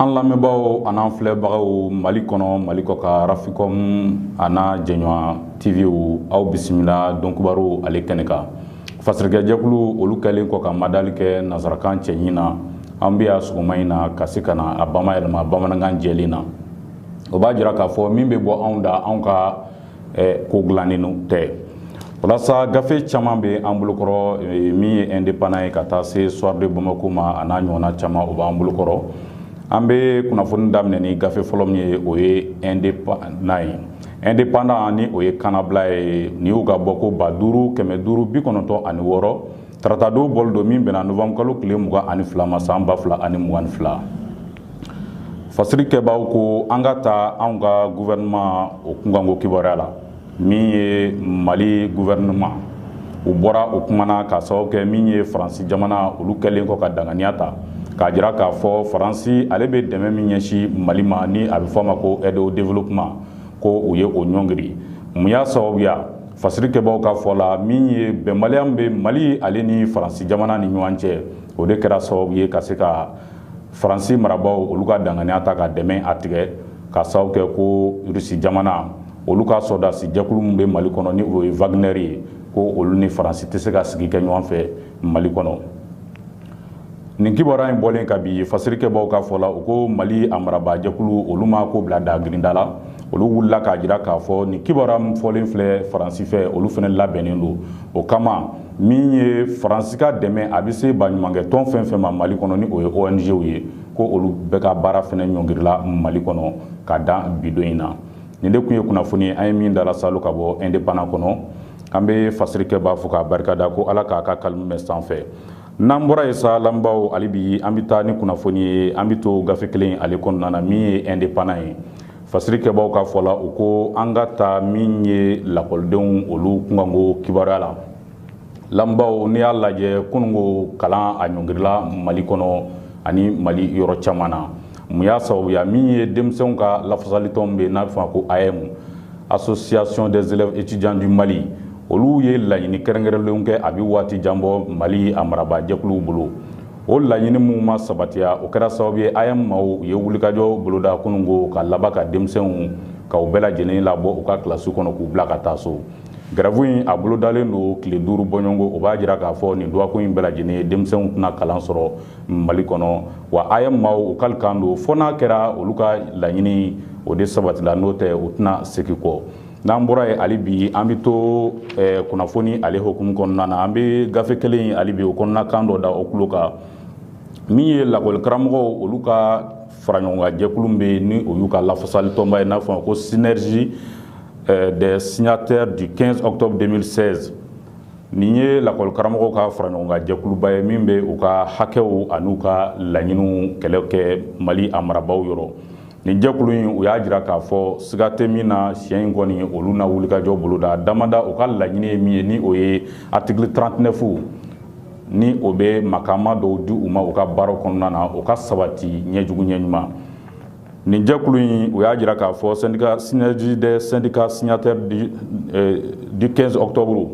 An lamɛnbaaw an n'an filɛbagaw Mali kɔnɔ Mali kɔkan RAFICOM a n'a jɛɲɔɔn TV aw bisimila Dɔnkibaru ale kɛnɛ kan fasirikɛjɛkulu olu kɛlen kɔ ka madali kɛ nansarakan cɛɲi na An bɛ yan sɔgɔma in na ka se ka na a bamayɛlɛma bamanankan jɛlen na o b'a jira k'a fɔ min bɛ bɔ anw da anw ka ko dilanen tɛ walasa gafe caman bɛ an bolokɔrɔ min ye Indépendant ye ka taa se Soir de Bamako ma n'a ɲɔgɔnna caman o b'an bolokɔrɔ an bɛ kunnafoni daminɛ ni gafe fɔlɔ min ye o ye Indépendant ye Indépendant ni o ye kannabila ye nin y'u ka bɔko ba duuru kɛmɛ duuru bi kɔnɔntɔn ani wɔɔrɔ Tarata don bɔli don min bɛnna novanburukalo tile mugan ani fila ma san ba fila ani mugan ni fila fasirikɛbaw ko an ka taa an ka gouvernement o kunkanko kibaruya la min ye mali gouvernement u bɔra o kuma na ka sababu kɛ min ye faransi jamana olu kɛlen kɔ ka danganiya ta k'a jira k'a fɔ faransi ale bɛ dɛmɛ min ɲɛsin mali ma ni a bɛ fɔ a ma ko aide au développement ko u ye o ɲɔngiri mun y'a sababuya Fasirikɛbaw ka fɔ la min ye bɛnbaliya min bɛ mali ale ni faransi jamana ni ɲɔgɔn cɛ o de kɛra sababu ye ka se ka faransi marabaaw olu ka danganiya ta ka dɛmɛ a tigɛ ka sababu kɛ ko Rusi jamana olu ka sɔrɔdasi jɛkulu min bɛ mali kɔnɔ ni o ye Wagner ye ko olu ni faransi tɛ se ka sigi kɛ ɲɔgɔn fɛ mali kɔnɔ nin kibaruya in bɔlen ka bi fasirikɛbaaw ka fɔ la u ko mali a marabaajɛkulu olu ma ko bila dagirinda la olu wulila k'a jira k'a fɔ nin kibaruya min fɔlen filɛ faransi fɛ olu fana labɛnnen don o kama min ye faransi ka dɛmɛ a bɛ se baɲumankɛtɔn fɛn fɛn ma mali kɔnɔ ni o ye ong-w ye ko olu bɛɛ ka baara fana ɲɔngirila mali kɔnɔ ka dan bi don in na nin de kun ye kunnafoni an ye min dala salo ka bɔ Indépendant kɔnɔ an bɛ fasirikɛbaa fo k'a barika da ko ala k'a ka kalimu mɛn sanfɛ n'an bɔra yen sa lamɛnbaaw hali bi an bɛ taa ni kunnafoni ye an bɛ to gafe kelen ale kɔnɔna na min ye Indépendant ye fasirikɛbaw ka fɔ la u ko an ka taa min ye lakɔlidenw olu kunkanko kibaruya la lamɛnbaaw n'i y'a lajɛ kununko kalan a ɲɔngirila mali kɔnɔ ani mali yɔrɔ caman na mun y'a sababuya min ye denmisɛnw ka lafasalitɔn bɛ n'a bɛ fɔ ko AEEM Association des élèves étudiants du Mali olu ye laɲini kɛrɛnkɛrɛnlen kɛ a bɛ waati jan bɔ mali a marabaajɛkuluw bolo o laɲini minnu ma sabatiya o kɛra sababu ye AEEM maaw u ye wulikajɔ boloda kununko ka laban ka denmisɛnw ka u bɛɛ lajɛlen labɔ u ka kilasiw kɔnɔ k'u bila ka taa so gɛrɛfu in a bolodalen don tile duuru bɔɲɔgɔnko o b'a jira k'a fɔ nin dɔgɔkun in bɛɛ lajɛlen ye denmisɛnw tɛna kalan sɔrɔ mali kɔnɔ wa aeem maaw u kali kan don fo n'a kɛra olu ka laɲini o de sabatila n'o tɛ u tɛna segi kɔ n'an bɔra ye ali bi an bɛ to eh, kunnafoni ale hokumu kɔnɔna na an bɛ gafe kelen ali bi o kɔnɔna kan dɔ da o tulo kan min ye lakɔli karamɔgɔw olu ka faraɲɔgɔnkan jɛkulu bɛ ni o y'u ka lafasali tɔnba ye n'a fɔ ma ko synergie eh, des signataires du 15 octobre 2016 Nin ye lakɔli karamɔgɔw ka faraɲɔgɔnkan jɛkuluba ye min bɛ u ka hakɛw ani u ka laɲiniw kɛlɛ kɛ mali a marabaaw yɔrɔ nin jɛkulu in u y'a jira k'a fɔ siga tɛ min na siɲɛ in kɔni olu na wulikajɔ boloda damada u ka laɲini ye min ye ni o ye article 39 ni o bɛ makama dɔw di u ma u ka baaraw kɔnɔna na o ka sabati ɲɛjugu ɲɛ ɲuman Nin jɛkulu in u y'a jira k'a fɔ sɛndika synergie des syndicats signataires du 15 octobre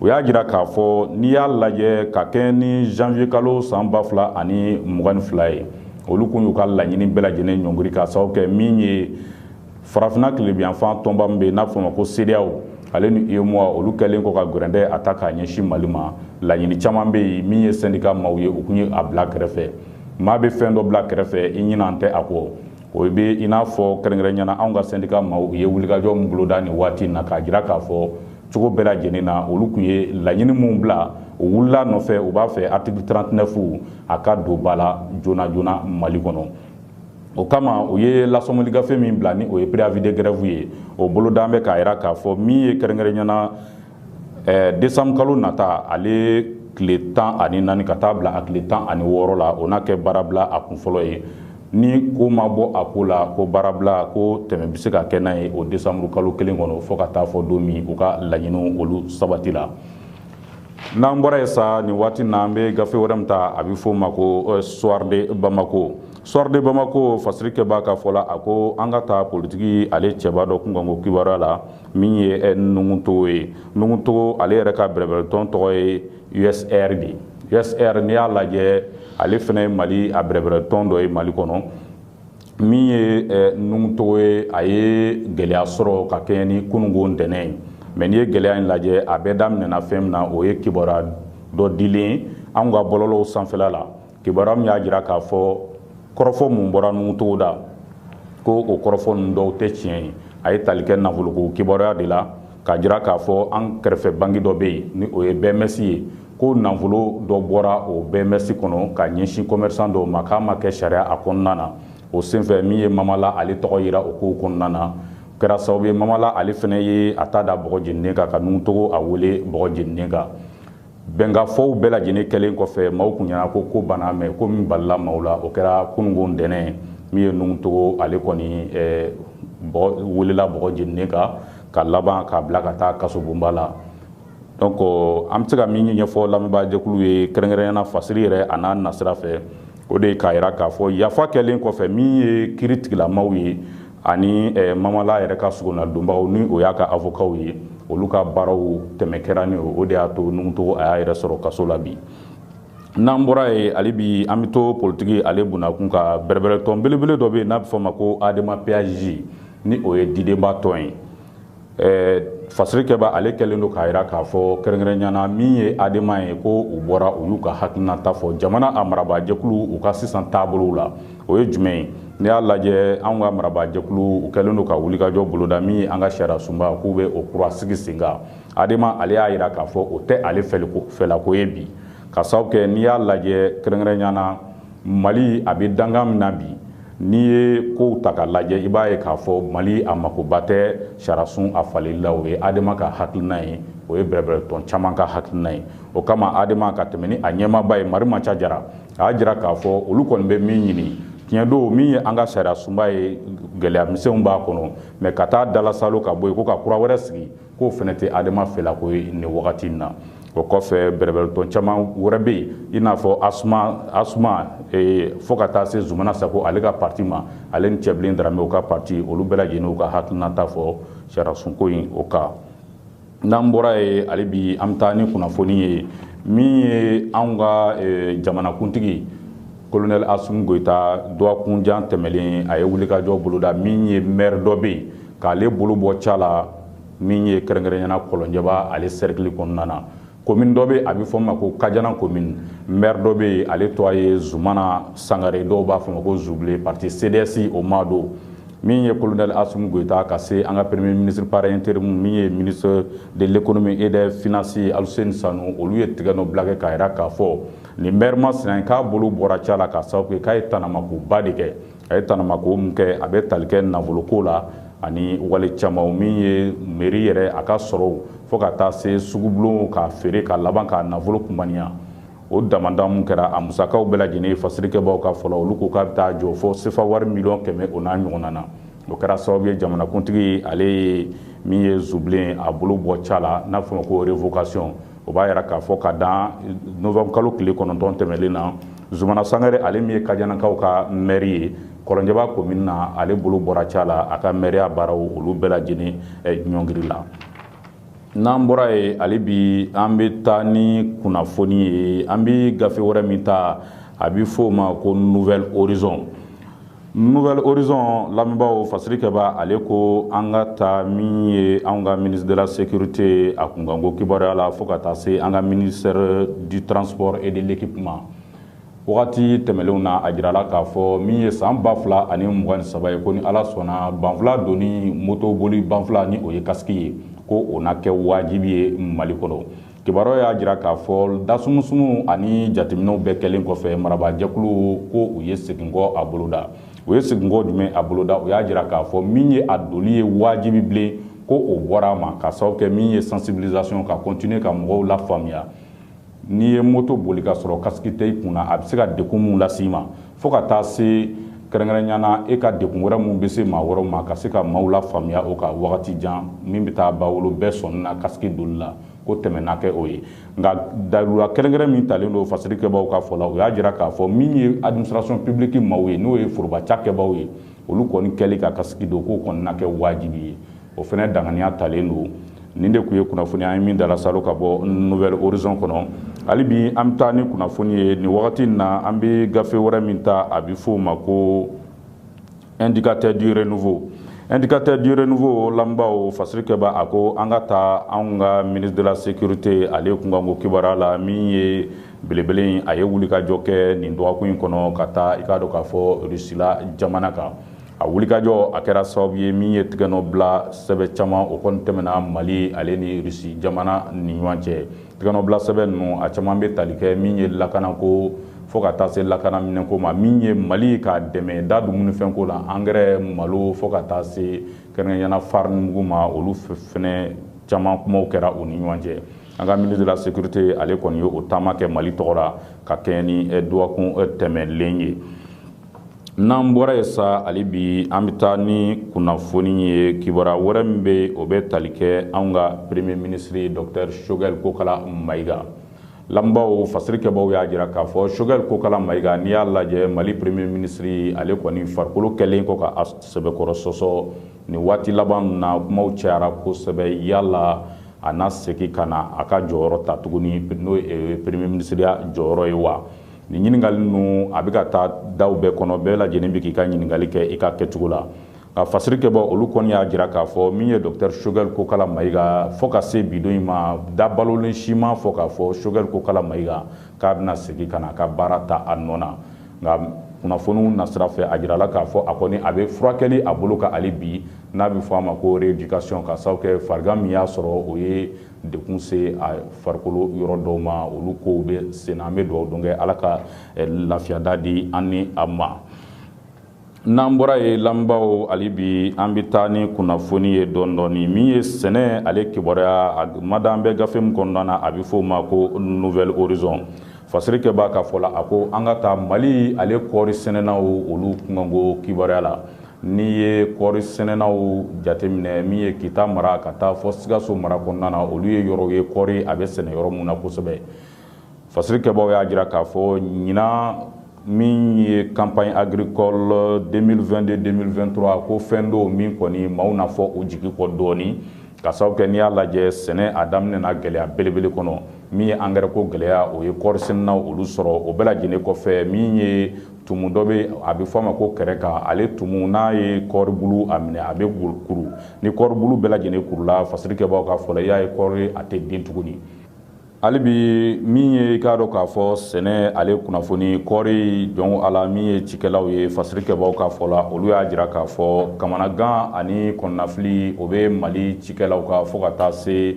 u y'a jira k'a fɔ n'i y'a lajɛ ka kɛɲɛ ni janvier kalo san ba fila ani mugan ni fila ye olu tun y'u ka laɲini bɛɛ lajɛlen ɲɔngiri k'a sababu kɛ min ye farafinna tilebinyanfan tɔnba min bɛ n'a fɔ ma ko cedeao ale ni uemoa olu kɛlen kɔ ka gɛrɛntɛ a ta k'a ɲɛsin mali ma laɲini caman bɛ yen min ye sɛndika maaw ye u tun ye a bila kɛrɛfɛ maa bɛ fɛn dɔ bila kɛrɛfɛ i ɲinan tɛ a kɔ o bɛ i n'a fɔ kɛrɛnkɛrɛnnenya na anw ka sɛndika maaw u ye wulikajɔ min boloda nin waati in na k'a jira k'a fɔ cogo bɛɛ lajɛlen na olu tun ye laɲini minnu bila u wulila nɔfɛ u b'a fɛ article 39 a ka don ba la joona joona Mali kɔnɔ o kama u ye lasɔmɔli gafe min bila ni o ye préavis de grève ye o boloda an bɛ k'a jira k'a fɔ min ye kɛrɛnkɛrɛnnenya na ɛɛ desanburu kalo nata ale tile tan ani naani ka taa bila a tile tan ani wɔɔrɔ la o n'a kɛ baarabila a kun fɔlɔ ye ni ko ma bɔ a ko la ko baarabila ko tɛmɛ bɛ se ka kɛ n'a ye o desanburu kalo kelen kɔnɔ fo ka taa fo don min u ka laɲiniw olu sabatila n'an bɔra yen sa nin waati na an bɛ gafe wɛrɛ min ta a bɛ f'o ma ko euh, soir de bamako soir de bamako fasirikɛbaa ka fɔ la a ko an ka taa politiki ale cɛba dɔ kunkanko kibaruya la min ye eh, nuhun togo ye nuhun togo ale yɛrɛ ka bɛrɛbɛrɛtɔn tɔgɔ ye usr de ye usr n'i y'a lajɛ ale fana ye mali a bɛrɛbɛrɛtɔn dɔ ye mali kɔnɔ min ye eh, nuhun togo ye a ye gɛlɛya sɔrɔ ka kɛɲɛ ni kunungo ntɛnɛn ye mais n'i ye gɛlɛya in lajɛ a bɛɛ daminɛna fɛn min na o ye kibaruya dɔ dilen anw ka bɔlɔlɔw sanfɛla la kibaruya min y'a jira k'a fɔ kɔrɔfɔ mun bɔra nuhun togo da ko o kɔrɔfɔ ninnu dɔw tɛ tiɲɛ ye a ye tali kɛ nafoloko kibaruya de la k'a jira k'a fɔ an kɛrɛfɛ banki dɔ bɛ yen ni o ye bms ye ko nafolo dɔ bɔra o bms kɔnɔ ka ɲɛsin commerçant dɔw ma k'a ma kɛ sariya a kɔnɔna na o senfɛ min ye mama lah ale tɔgɔ yira o kow kɔnɔna na kɛra sababu ye mama lah ale fana ye a ta da bɔgɔ jeninen kan ka nuhun togo a wele bɔgɔ jeninen kan bɛnkafɔw bɛɛ lajɛlen kɛlen kɔfɛ maaw kun ɲɛna ko ko banna mais ko min balila maaw la o kɛra kununko ntɛnɛn min ye nuhun togo ale kɔni eh, welela bɔgɔ jeninen kan ka laban k'a bila ka taa kasobonba la donc euh, an bɛ se ka min ɲɛfɔ lamɛnbaajɛkulu ye kɛrɛnkɛrɛnyana fasiri yɛrɛ a n'a nasira fɛ o de ye k'a jira k'a fɔ yafa kɛlen kɔfɛ min ye kiiritigɛla maaw ye ani eh, mamala yɛrɛ ka sogonnadonbagaw ni o y'a ka avokaw ye olu ka baaraw tɛmɛ kɛra ni o de y'a to nuhun togo a y'a yɛrɛ sɔrɔ kaso la bi n'an bɔra yen hali bi an bɛ to politiki ale bunakun ka bɛrɛbɛrɛtɔn belebele dɔ bɛ yen n'a bɛ fɔ ma ko adema pasj ni o ye didenba tɔn ye fasirikɛba ale kɛlen don k'a jira k'a fɔ kɛrɛnkɛrɛnɲɛna min ye adema ye ko u bɔra u y'u ka hakilinata fɔ jamana a marabaajɛkulu u ka sisan taabolow la o ye jumɛn ye n'i y'a lajɛ an ka marabaajɛkulu u kɛlen don ka wulikajɔ boloda min ye an ka sariyasunba k'u bɛ o kura sigi sen kan adema ale y'a jira k'a fɔ o tɛ ale fɛlako ye bi k'a sababu kɛ n'i y'a lajɛ kɛrɛnkɛrɛnɲɛna mali a bɛ dankan min na bi N'i ye kow ta ka lajɛ i b'a ye k'a fɔ Mali a makoba tɛ sariyasun a faleli la. O ye ADEMA ka hakilina ye, o ye bɛrɛbɛrɛtɔn caman ka hakilina ye. O kama ADEMA ka tɛmɛ ni a ɲɛmaaba ye Marimaca Jara, a y'a jira k'a fɔ olu kɔni bɛ min ɲini, tiɲɛ don min ye an ka sariyasunba ye gɛlɛya misɛnw b'a kɔnɔ mais ka taa dalasaalo ka bɔ yen ko ka kura wɛrɛ sigi. k'o fana tɛ adema fɛlako ye nin wagati in na o kɔfɛ bɛrɛbɛrɛtɔn caman wɛrɛ bɛ yen i n'a fɔ asuma asuma ee, fo ka taa se zumana sako ale ka parti ma ale ni cɛbilen daramɛ u ka parti olu bɛɛ lajɛlen u ka hakilinata fɔ sariyasunko in o kan n'an bɔra yen hali bi an bɛ taa ni kunnafoni ye min ye anw ka ee, jamanakuntigi kolonɛli asimi goyita dɔgɔkunjan tɛmɛnen a ye wulikajɔ boloda min ye mɛri dɔ bɛ yen k'ale bolo bɔ ca la min ye kɛrɛnkɛrɛnɲɛna kɔlɔnjɛba ale serikili kɔnɔna na komini dɔ bɛ a bɛ fɔ a ma ko kajana komini mɛri dɔ bɛ yen ale tɔgɔ a ye zumana sangare dɔw b'a fɔ ma ko zubilen parti CDS o ma don min ye kolonɛli asimi goyita ka se an ka premier ministre par intérim min ye ministre de l'économie et des finances aluseni sanu olu ye tɛgɛnɔ bila kɛ k'a jira k'a fɔ Nin mɛri masina k'a bolo bɔra ca la k'a sababu kɛ k'a ye tanamakoba de kɛ a ye tanamako min kɛ a bɛ tali kɛ nafoloko la ani wale caman min ye meri yɛrɛ a ka sɔrɔw fo ka taa se sugubulon k'a feere ka laban k'a nafolo kunmaniya o damadama kɛra a musakaw bɛɛ lajɛlen fasirikɛbaw ka fɔ la olu ko k'a bɛ taa jɔ fo sefa wari miliyɔn kɛmɛ o n'a ɲɔgɔnna na o kɛra sababu ye jamanakuntigi ale ye min ye zubilen a bolo bɔ ca la n'a fɔ ma ko révocation o b'a jira k'a fɔ ka dan novembre kalo tile kɔnɔntɔn tɛmɛlen na zumana sangare ale min ye kajanakaw ka mɛri ye kɔlɔnjɛba komini na ale bolo bɔra ca la a ka mɛriya baaraw olu bɛɛ lajɛlen eh, ɲɔngiri la n'an bɔra yen hali bi an bɛ taa ni kunnafoni ye an bɛ gafe wɛrɛ min ta a bɛ fɔ o ma ko nouvel horizon nouvel horizon lamɛnbaaw fasiri kɛba ale ko an ka taa min ye anw ka ministre de la sécurité a kunkanko kibaruya la fo ka taa se an ka ministère du transport et de l'équipement wagati tɛmɛlenw na a jirala k'a fɔ min ye san ba fila ani mugan ni saba ye ko ni ala sɔnna banfula donni moto boli banfula ni o ye kasiki ye ko o na kɛ wajibi ye mali kɔnɔ kibaruya y'a jira k'a fɔ dasumusumu ani jateminɛw bɛɛ kɛlen kɔfɛ marabaajɛkulu ko u ye seginkɔ a boloda u ye seginkɔ jumɛn a boloda u y'a jira k'a fɔ min ye a doli ye wajibi bilen ko o bɔra a ma ka sababu kɛ min ye sensibilisation ka continuer ka mɔgɔw lafaamuya n'i ye moto boli ka sɔrɔ kasiki tɛ i kunna a bɛ se ka degun min las'i ma fo ka taa se kɛrɛnkɛrɛnya na e ka degun wɛrɛ minnu bɛ se maa wɛrɛw ma ka se ka maaw lafaamuya o kan wagati jan min bɛ taa bawolo bɛɛ sɔnni na kasiki doli la ko tɛmɛna kɛ o ye nka dayurula kɛrɛnkɛrɛn min talen don fasiri kɛbaaw ka fɔ la o y'a jira k'a fɔ min ye administration publique maaw ye n'o ye forobaca kɛbaaw ye olu kɔni kɛli ka kasiki don k'o kɔni na kɛ wajibi ye o fana daŋaniya talen don nin de tun ye kunnafoni an ye min dala salo ka bɔ nouvel horizon kɔnɔ hali bi an bɛ taa ni kunnafoni ye nin wagati in na an bɛ gafe wɛrɛ min ta a bɛ f'o ma ko indicateur du renouveau indicateur du renouveau lamɛnbaaw fasiri kɛba a ko an ka taa anw ka ministre de la sécurité ale kunkanko kibaruya la min ye belebele in a ye wulikajɔ kɛ nin dɔgɔkun in kɔnɔ ka taa i k'a dɔn k'a fɔ rusila jamana kan A wulikajɔ a kɛra sababu ye min ye tigɛnɔ bila sɛbɛn caman o kɔni tɛmɛna mali ale ni rusi jamana ni ɲɔgɔn cɛ tigɛnɔ bila sɛbɛn ninnu a caman bɛ tali kɛ min ye lakana ko fo ka taa se lakana minɛn ko ma min ye mali ka dɛmɛ da dumunifɛn ko la angɛrɛ malo fo ka taa se kɛrɛnkɛrɛnya na farinimugu ma olu fana caman kumaw kɛra u ni ɲɔgɔn cɛ an ka ministre de la sécurité ale kɔni ye o taama kɛ mali tɔgɔ la ka kɛɲɛ ni dɔgɔkun tɛmɛlen ye n'an bɔra yen sa hali bi an bɛ taa ni kunnafoni ye kibaruya wɛrɛ min bɛ yen o bɛ tali kɛ an ka premier ministre docteur choguel kokalla maïga lamɛnbaaw fasiri kɛbaaw y'a jira k'a fɔ choguel kokalla maïga n'i y'a lajɛ mali premier ministre ale kɔni farikolo kɛlen kɔ ka sɛbɛkɔrɔ sɔsɔ nin waati laban na kuma cayara kosɛbɛ yala a na segin ka na a ka jɔyɔrɔ ta tuguni n'o ye premier ministreya jɔyɔrɔ ye wa Ni ɲininkali ninnu a bɛ ka taa daw bɛɛ kɔnɔ bɛɛ lajɛlen bɛ k'i ka ɲininkali kɛ i ka kɛcogo la ka fasirikɛbaw olu kɔni y'a jira k'a fɔ min ye docteur Choguel Kokalla Maïga fo ka se bi don in ma da balolen si ma fɔ k'a fɔ Choguel Kokalla Maïga k'a bɛna segin ka na a ka baara ta a nɔ na nka kunnafoniw nasira fɛ a jirala k'a fɔ a kɔni a bɛ furakɛli a bolo kan hali bi n'a bɛ fɔ a ma ko rééducation ka sababu kɛ farigan min y'a sɔrɔ o ye degun se a farikolo yɔrɔ dɔw ma olu kow bɛ sen na an bɛ dugawu don k'ala ka eh, lafiya da di an ni a ma n'an bɔra yen lamɛnbaaw hali bi an bɛ taa ni kunnafoni ye dɔɔni min ye sɛnɛ ale kibaruya a mada an bɛ gafe min kɔnɔna na a bɛ f'o ma ko Nouvel Horizon fasirikɛbaa ka fɔ la a ko an ka taa mali ale kɔɔri sɛnɛnaw olu kunkanko kibaruya la N'i ye kɔri sɛnɛnaw jateminɛ min ye kita mara ka taa fo sikaso mara kɔnɔna na olu ye yɔrɔ ye kɔri a bɛ sɛnɛ yɔrɔ min na kosɛbɛ fasirikɛbaa y'a jira k'a fɔ ɲinan min ye campagne agricole 2022-2023 ko fɛn dɔ min kɔni maaw n'a fɔ o jigi kɔ dɔɔnin ka sababu kɛ n'i y'a lajɛ sɛnɛ a daminɛ na gɛlɛya belebele kɔnɔ min ye angɛrɛ ko gɛlɛya o ye kɔri sɛnɛnaw olu sɔrɔ o bɛɛ lajɛlen kɔfɛ min ye tumu dɔ bɛ a bɛ fɔ a ma ko kɛrɛkan ale tumu n'a ye kɔribulu a minɛ a bɛ kuru ni kɔribulu bɛɛ lajɛlen kurula fasirikɛbaa ka fɔ la i y'a ye kɔri a tɛ den tuguni hali bi min ye i k'a dɔn k'a fɔ sɛnɛ ale kunnafoni kɔɔri jɔn a la min ye cikɛlaw ye fasirikɛbaa ka fɔ la olu y'a jira k'a fɔ kamanagan ani kɔnɔnafili o bɛ mali cikɛlaw kan fo ka taa se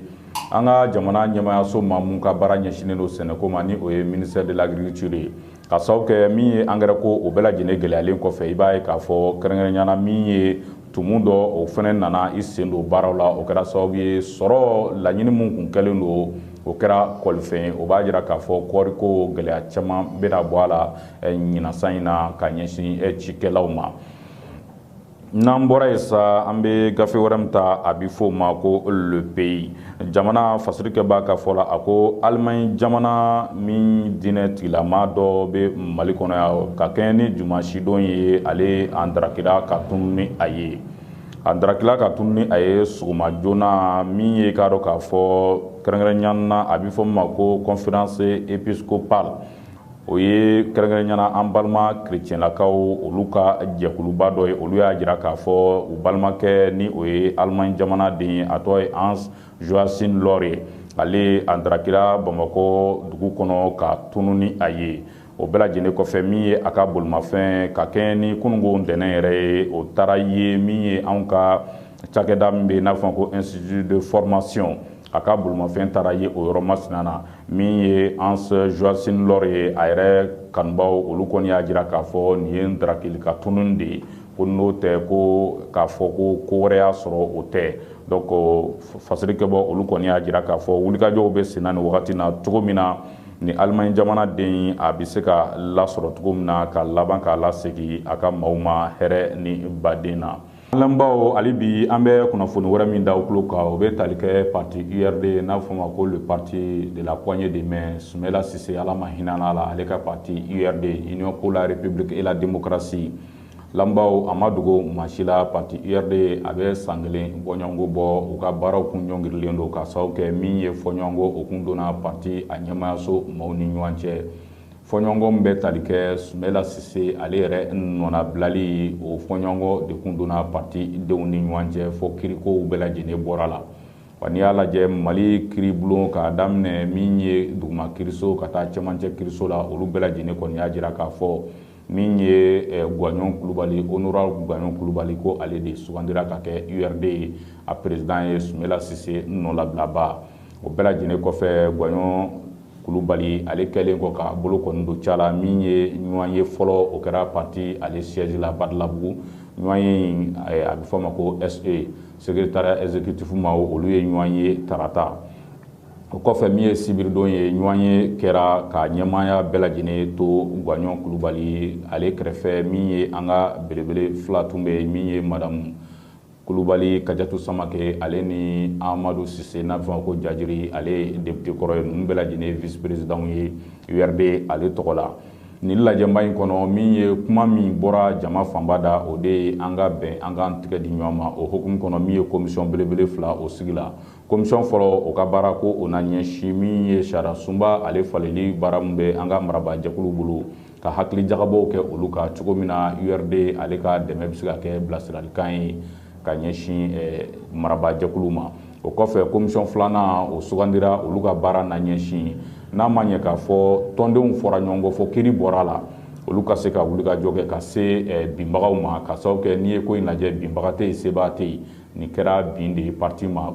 an ka jamana ɲɛmayaso ma min ka baara ɲɛsinnen don sɛnɛko ma ni o ye ministère de l'agriculture ye ka sababu kɛ min ye angɛrɛ ko o bɛɛ lajɛlen gɛlɛyalen kɔfɛ i b'a ye k'a fɔ kɛrɛnkɛrɛnya na min ye tumu dɔ o fɛnɛ nana i sen don baaraw la o kɛra sababu ye sɔrɔ laɲini min kun kɛlen don o kɛra kɔlifɛn ye o b'a jira k'a fɔ kɔɔriko gɛlɛya caman bɛna bɔ a la ɲinan san in na ka ɲɛsin cikɛlaw ma N'an bɔra yen sa an bɛ gafe wɛrɛ min ta a bɛ fɔ o ma ko Le Pays jamana fasirikɛbaa ka fɔ la a ko alimaɲi jamana min diinɛ tigilama dɔ bɛ mali kɔnɔ yan ka kɛɲɛ ni dimansidon ye ale an darakila ka tunun ni a ye a darakila ka tunun ni a ye sɔgɔma joona min ye k'a dɔn k'a fɔ kɛrɛnkɛrɛnya na a bɛ fɔ min ma ko conférence épiscopale o ye kɛrɛnkɛrɛnya na an balima kerecɛnlakaw olu ka jɛkuluba dɔ ye olu y'a jira k'a fɔ u balimakɛ ni o ye alimaɲi jamanaden ye a tɔgɔ ye Hans Joachim Lohre ye ale a darakila bamakɔ dugu kɔnɔ ka tunun ni a ye o bɛɛ lajɛlen kɔfɛ min ye a ka bolimafɛn ka kɛɲɛ ni kununko ntɛnɛn yɛrɛ ye o taara ye min ye an ka cakɛda min bɛ yen n'a fɔ ko institut de formation a ka bolimafɛn taara ye o yɔrɔ masina na min ye hans joachim lohre ye a yɛrɛ kanubaw olu kɔni y'a jira k'a fɔ nin ye darakili ka tunun de ye ko n'o tɛ ko k'a fɔ ko ko wɛrɛ y'a sɔrɔ o tɛ donc fasirikɛbɔ olu kɔni y'a jira k'a fɔ wulikajɔw bɛ senna nin wagati na cogo min na ni alimaɲi jamana den a bɛ se ka lasɔrɔ cogo min na ka laban k'a lasegin a ka maaw ma hɛrɛ ni baden na Lanbaw hali bi an bɛ kunnafoni wɛrɛ min da aw tulo kan o bɛ tali kɛ pati urd n'a fɔ ma ko le parti de la poignée de main sumɛla sise ala ma hinɛ a la ale ka pati urd union pour la république et la démocratie lanbaw a ma dogo maa si la pati urd a bɛ san kelen bɔɲɔgɔnko bɔ u ka baaraw kun ɲɔngirilen don ka sababu kɛ min ye fɔɲɔgɔnkɔ o kun donna pati a ɲɛmayaso maaw ni ɲɔgɔn cɛ fɔɲɔgɔnkɔ bɛ tali kɛ sumɛla sise ale yɛrɛ nɔnabilali o fɔɲɔgɔnkɔ de tun donna pati denw ni ɲɔgɔn cɛ fɔ kiirikow bɛɛ lajɛlen bɔra la wa n'i y'a lajɛ mali kiiribulon k'a daminɛ min ye duguma kiiriso ka taa cɛmancɛ kiiriso la olu bɛɛ lajɛlen kɔni y'a jira k'a fɔ min ye gwaɲɔn kulubali honorable gwaɲɔn kulubali ko ale de sugandira ka kɛ urd ye a peresidan ye sumɛla sise nɔlabilaba o bɛɛ lajɛlen kɔfɛ gwaɲɔn kulubali ale kɛlen kɔ k'a bolo kɔni don ca la min ye ɲɔgɔnye fɔlɔ o kɛra pati ale siyɛzi la badalabugu ɲɔgɔnye a bɛ fɔ' ma ko se secrétariat exécutif ma olu ye ɲɔgɔn ye tarata o kɔfɛ min ye sibiridon ye ɲɔgɔnye kɛra ka ɲɛmaaya bɛɛ lajɛlen to gwaɲɔn kulubali ale kɛrɛfɛ min ye an ka belebele fila tun bɛ yen min ye madamu kulubali kajatu samake ale ni amadu sise n'a fɔ ma ko jajiri ale ye depite kɔrɔ ye ninnu bɛɛ lajɛlen visi peresidanw ye urd ale tɔgɔ la nin lajɛba in kɔnɔ min ye kuma min bɔra jama fanba da o de ye an ka bɛn an k'an tigɛ di ɲɔgɔn ma o hukumu kɔnɔ min ye komisɔn belebele fila o sigila Komisɔn fɔlɔ o ka baara ko o na ɲɛsin min ye sariya sunba ale faleli baara min bɛ an ka marabaajɛkulu bolo ka hakili jagabɔw kɛ olu kan cogo min na urd ale ka dɛmɛ bɛ se ka kɛ bilasiralikan ye ka ɲɛsin eh, marabaajɛkulu ma o kɔfɛ komisɔn filanan o sugandira olu ka baara na ɲɛsin n'a ma ɲɛ k'a fɔ tɔndenw fɔra ɲɔgɔn kɔ fɔ kiiri bɔra a la olu ka se ka wulikajɔ kɛ ka se eh, binbagaw ma ka sababu kɛ n'i ye ko in lajɛ binbaga tɛ yen sebaa tɛ yen nin kɛra bin de ye pati ma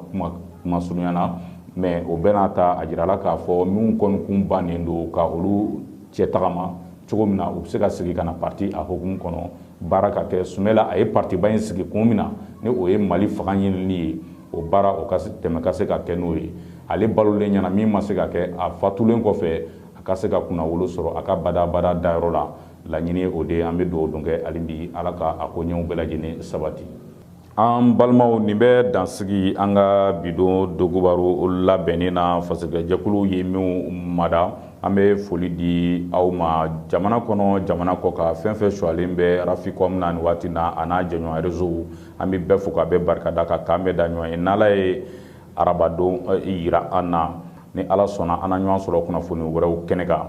kuma surunya na mɛ o bɛɛ n'a ta a jirala k'a fɔ minnu kɔni kun bannen don ka olu cɛ tagama cogo min na u bɛ se ka segin ka na pati a hukumu kɔnɔ baara ka kɛ sumɛla a ye patiba in sigi kun min na ni o ye mali fanga ɲinili ye o baara o tɛmɛ ka se ka kɛ n'o ye ale balolen ɲɛna min ma se ka kɛ a fatulen kɔfɛ a ka se ka kunnawolo sɔrɔ a ka badabada dayɔrɔ la laɲini o de an bɛ dugawu don kɛ hali bi ala k'a koɲɛ bɛɛ lajɛlen sabati An balimaw nin bɛ dansigi an ka bi don donkibaru labɛnnen na fasojɛkulu ye min mada an bɛ foli di aw ma jamana kɔnɔ jamana kɔkan fɛn fɛn sulen bɛ Raficom na nin waati na a n'a jɛɲɔgɔn resow an bɛ bɛɛ fo ka bɛɛ barika da ka k'an bɛn da ɲɔgɔn ye n'ala ye arabadon jira an na ni ala sɔnna an na ɲɔgɔn sɔrɔ kunnafoni wɛrɛw kɛnɛ kan